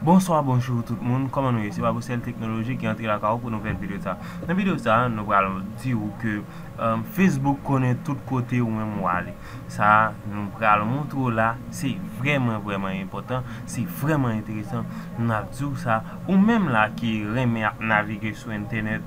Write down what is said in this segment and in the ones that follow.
Bonswa bonjou tout moun kòman nou ye se babosèl teknoloji ki antre lakay ou pou nouvèl videyo sa nan videyo sa nou pral di ou ke facebook konnen tout kote ou menm ou ale Sa nou pral montre w la se vrèman vrèman enpòtan, se vrèman enteresan. N ap di w sa, ou menm la ki renmen ap navige sou entènèt,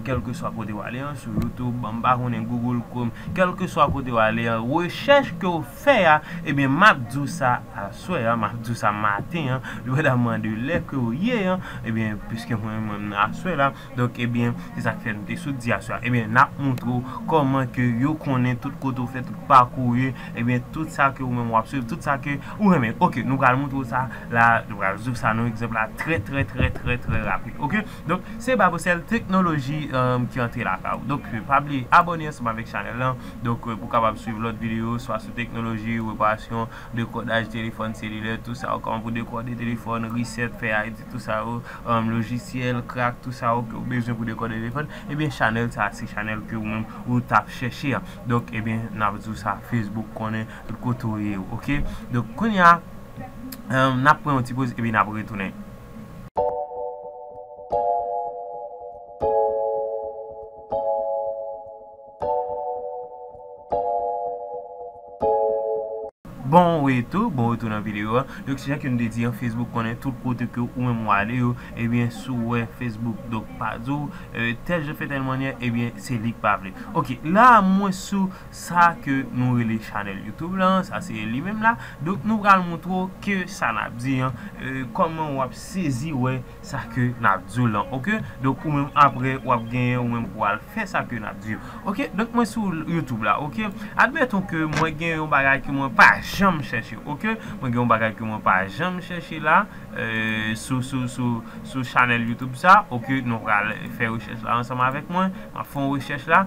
kèlkeswa kote w ale an, sou YouTube, m pa konnen, Google Chrome, kèlkeswa kote w ale an, rechèch ke w fè a, ebyen m ap di w sa aswè a, m ap di w sa maten an, depandamman de lè ke w ye an, ebyen piske mwen menm aswè la, Donk ebyen se sak fè nou te sot di aswè a ebyen nap moutre w kòman ke yo konnen tout kote ou fè tout pakou ou ye ebyen tout sa ke ou menm wap swiv tout sa ke ou renmen ok nou pral moutre w sa la nou pral rezoud sa nou egzanp la trè trè trè trè trè rapid ok donk se Babocell teknoloji ki antre lakay ou donk pa bliye abòne ansanm avèk chanèl lan donk pou kapab swiv lòt videyo swa sou teknoloji reparasyon. Dekodaj telefòn selilè tout sa yo kòman pou dekode telefòn reset fè ayiti tout sa yo lojisyèl krak tout sa yo kew bezwen pou dekode telefòn ebyen chanèl sa se chanèl ke ou menm ou tap chèche a donk ebyen nap diw sa Facebook konnen tout kote ou ye ok donk kounya nap pran yon ti poz epi nap retounen. Bon retou, bon retou nan video a. Donk se jan ke nou te di an Facebook konnen tout kote ke ou menm ou ale yo, ebyen si w wè Facebook donk pa di w tèl jan fè tèl mannyè ebyen se li k pa vle. Ok la mwen sou sa ke nou rele chanèl YouTube la, sa se li menm la. Donk nou pral montre w ke sa n ap di an, kòman w ap sezi wè. sa ke nap diw lan ok donk ou menm aprè wap genyen ou menm pou al fè sa ke nap diw ok donk mwen sou YouTube la ok admeton ke mwen gen yon bagay ke mwen pa janm chèche ok mwen gen yon bagay ke mwen pa janm chèche la sou sou sou sou chanèl YouTube sa ok nou pral fè rechèch la ansanm avèk mwen map fè yon rechèch la.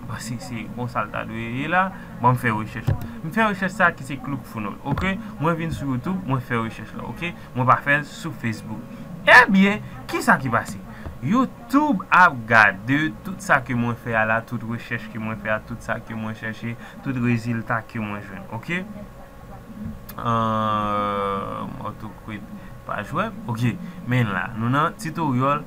M panse se bon sa l ta dwe ye la. Bon m fè rechèch la. M fè rechèch sa ki se Club Founol ok. Mwen vin sou YouTube mwen fè rechèch la ok. Mwen pa fè l sou Facebook. Ebyen ki sa ki pase? YouTube ap gade tout sa ke mwen fè a la, tout rechèch ke mwen fè a, tout sa ke mwen chèche, tout rezilta ke mwen jwenn ok. Humm orthoquid page web ok. Men la nou nan Tutorial.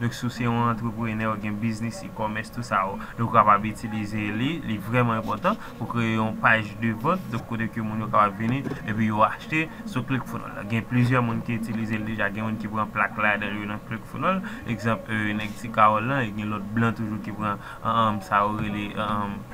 Donk si w se yon antreprenè, ou gen biznis, e-commerce, tout sa yo, donk ou kapab itilize li, li vrèman enpòtan pou kreye yon paj de vant, donk kote ke moun yo kapab vini epi yo achte sou ClickFunnels la. Gen plizyè moun ki itilize l deja, gen moun ki pran plak ladan yo nan ClickFunnels, egzanp nèg Ti Kawòl lan, e gen lòt blan toujou ki pran sa yo rele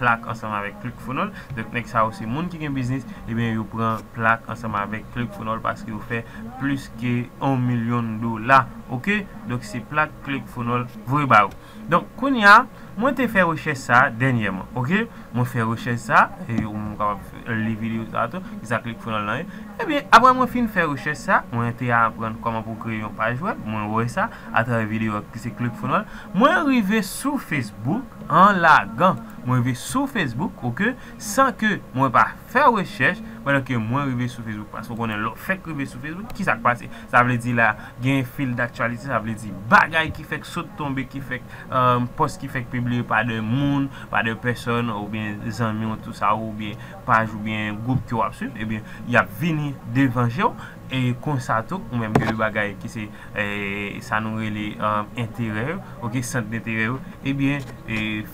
plak ansanm avèk ClickFunnels. Donk nèg sa yo se moun ki gen biznis, ebyen yo pran plak ansanm avèk ClickFunnels paske yo fè plis ke 1 milyon dola, ok. Donk se plak Cleckfonol voye ba ou. Donk kounye a, mwen te fè rechèch sa a dènyèman. Ok, mwen fè rechèch sa a, e ou menm ou kapab li videyo sa a tou, ki sa Cleckfonol lan ye. Ebyen, aprè mwen fin fè rechèch sa a, mwen te aprann kòman pou kreye yon paj wèb, mwen wè sa atravè videyo a ki se Cleckfonol. Mwen rive sou Facebook an lagan. Mwen rive sou Facebook, ok, san ke mwen pa fè rechèch, pandan ke mwen rive sou Facebook. Paske ou konnen lè w fèk rive sou Facebook, ki sa k pase? Sa vle di la gen fil daktyalite sa vle di bagay ki fèk sot tonbe ki fèk pòs ki fèk pibliye pa de moun pa de pèsòn oubyen zanmi w tou sa oubyen paj oubyen gwoup ke w ap swiv ebyen y ap vini devan je w e konsa tou ou menm gen de bagay ki se sa nou rele enterè yo ok sant denterè yo ebyen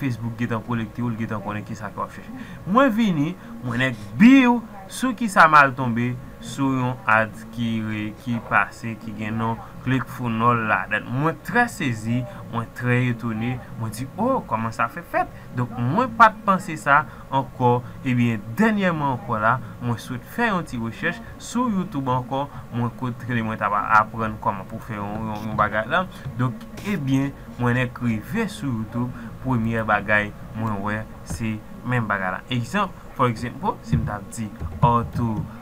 facebook gentan kolekte w li gentan konnen kisa ke w ap chèche mwen vini mwen nèk biw sou kisa m al tonbe sou yon ad. ki re ki pase ki gen non klecfounoll ladann mwen trè sezi mwen trè etone mwen di oh kòman sa fè fèt donk mwen pat panse sa ankò ebyen dènyèman ankò la mwen sot fè yon ti rechèch sou youtube ankò mwen kot kle mwen ta aprann kòman pou fè yon bagay la donk ebyen mwen nèk rive sou youtube premyè bagay mwen wè se menm bagay la egzanp for example sim tap di ortho.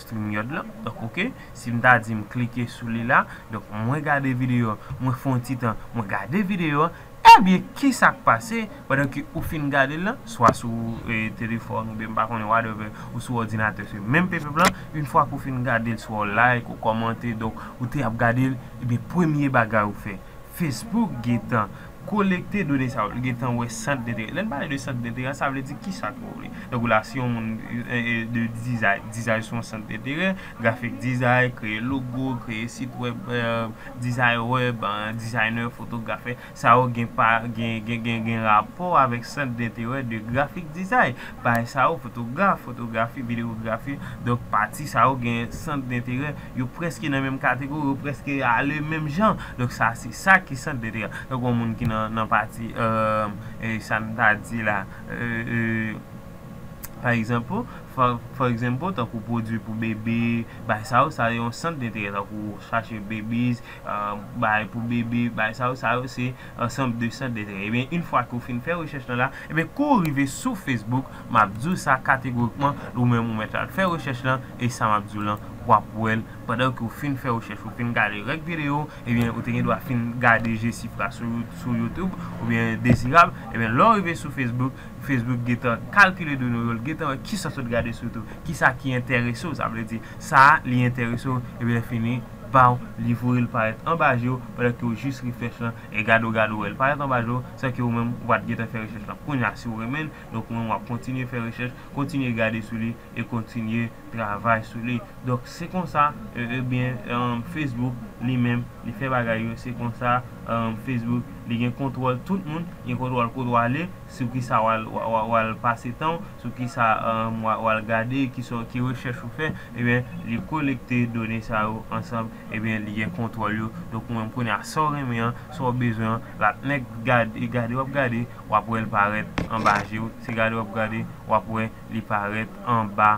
Simyòd lan donk ok si m ta di m klike sou li la donk mwen gade video an mwen fè yon ti tan mwen gade video an ebyen kisa k pase pandan ke ou fin gade l lan swa sou telefòn oubyen m pa konnen whatever ou sou òdinatè se menm peplp lan yn fwa ke ou fin gade l swa w like ou kòmante donk ou te ap gade l ebyen premye bagay ou fè Facebook gentan Kolekte done sa yo, li gen tan wè sant denterè. Lè n pale de sant denterè a, sa vle di ki sa ke w vle. Tankou la, si yon moun de dizay, dizay se yon sant denterè, grafik dizay, kreye logo, kreye sit wèb, dizay wèb, dizaynè, fotografè, sa yo gen pa, gen, gen rapò avèk sant denterè de grafik dizay. Pami sa yo, fotograf, fotografi, videyografi, donk pati sa yo gen sant denterè. Yo prèske nan menm kategori, yo prèske ale menm jan. Donk sa se sa ki sant de dega. Tankou yon moun ki nan pati sa n ta di la pa egzanp, for example tankou pwodui pou bebe, bay sa yo, sa yo se yon sant de dega tankou chache bebis, bay pou bebe, bay sa yo, sa yo se. ansanm de sant de trè ebyen yn fwa ke ou fin fè rechèch lan la ebyen kou ou rive sou Facebook map di w sa kategorikman ou menm ou mèt al fè rechèch lan e sa map di w lan wap wè l pandan ke ou fin fè rechèch ou fin gade règ video ebyen ou te gen dwa fin gade Jesifra sou YouTube oubyen Dezirab ebyen lè ou rive sou Facebook Facebook gentan kalkile done yo l gentan wè kisa sot gade sou YouTube kisa ki enterese w sa vle di sa li enterese w ebyen fini. baw li voyel parèt anba jew pandan kew jis refresh lan e gade ou gade ou wèl parèt anba jew san ke ou menm ou pat gentan fè rechèch lan kounya siw renmenl donk ou menm wap kontinye fè rechèch kontinye gade sou li e kontinye travay sou li donk se konsa ebyen facebook li menm li fè bagay yo se konsa facebook li gen kontwòl tout moun gen kontwòl kote wale Sou ki sa w al pase tan w, sou ki sa w al gade, ki rechèch ou fè, ebyen li kolekte done sa yo ansanm, ebyen li gen kontwòl yo, donk ou menm kounye a sa w renmen an, sa w bezwen an, l ap nèk gade, e gade w ap gade, w ap wè l parèt anba je w, se gade w ap gade, w ap wè li parèt anba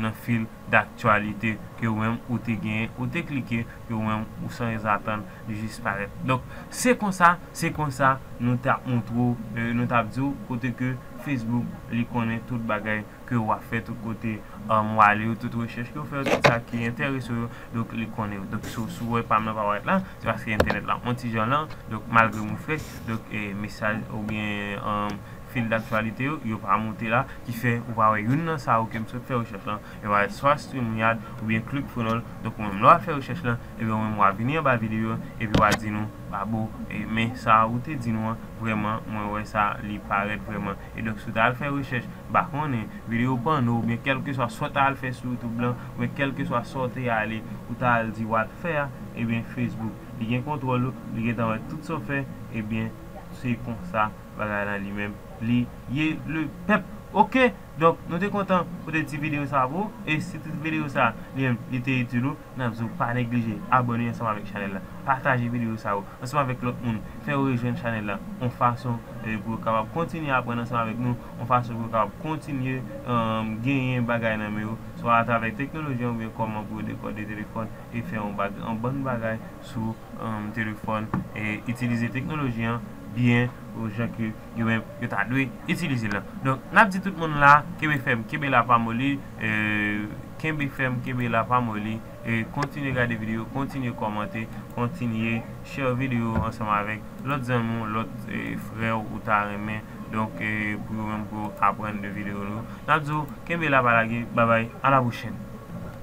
nan fil daktyalite ke ou menm ou te genyen, ou te klike, ke ou menm ou sanzatann. jis parèt. Donk, se konsa, se konsa nou t ap montre w, nou t ap di w kote ke Facebook li konnen tout bagay ke w ap fè, tout kote w ale yo, tout rechèch ke w fè yo, tout sa ki enterese w yo, donk li konnen yo. Donk, si w wè pa m nan pa parèt la, se paske entènèt la on ti jan lan, donk malgre mwen frèch, donk mesaj oubyen fil daktyalite yo, yo pa monte la, ki fè ou pa wè youn nan sa yo ke m sot fè rechèch lan, yo parèt swa StreamYard oubyen ClickFunnels, donk ou menm lè w ap fè rechèch lan, Ebyen ou menm wa vini anba video an epi wa di nou Babo men sa ou te di nou an vrèman mwen wè sa li parèt vrèman e donk si ou ta al fè rechèch ba konnen video pòno oubyen kèlkeswa sa ou ta al fè sou youtube lan oubyen kèlkeswa sa ou te ale ou ta al di wal fè a ebyen facebook li gen kontwòl ou li gentan wè tout sa ou fè ebyen se konsa bagay lan li menm li ye le pèp ok donk nou te kontan pote ti video sa pou ou e si ti video sa li menm li te itil ou. Nap di w pa neglije abone ansanm avèk chanèl la, pataje videyo sa yo ansanm avèk lòt moun, fè yo rejwenn chanèl la yon fason pou yo kapab kontinye aprann ansanm avèk nou, yon fason pou yo kapab kontinye genyen bagay nan men yo, swa atravè teknoloji an oubyen kòman pou yo dekòde telefòn e fè yon bann bagay sou telefòn, itilize teknoloji an byen jan ke. yo menm yo ta dwe itilize la donk nap di tout moun la kenbe fèm kenbe la pa moli kenbe fèm kenbe la pa moli kontinye gade video kontinye kòmante kontinye share video ansanm avèk lòt zanmi w lòt frè w ou ta renmen donk pou yo menm tou aprann de video nou nap di w kenbe la pa lage babay a la pwochèn.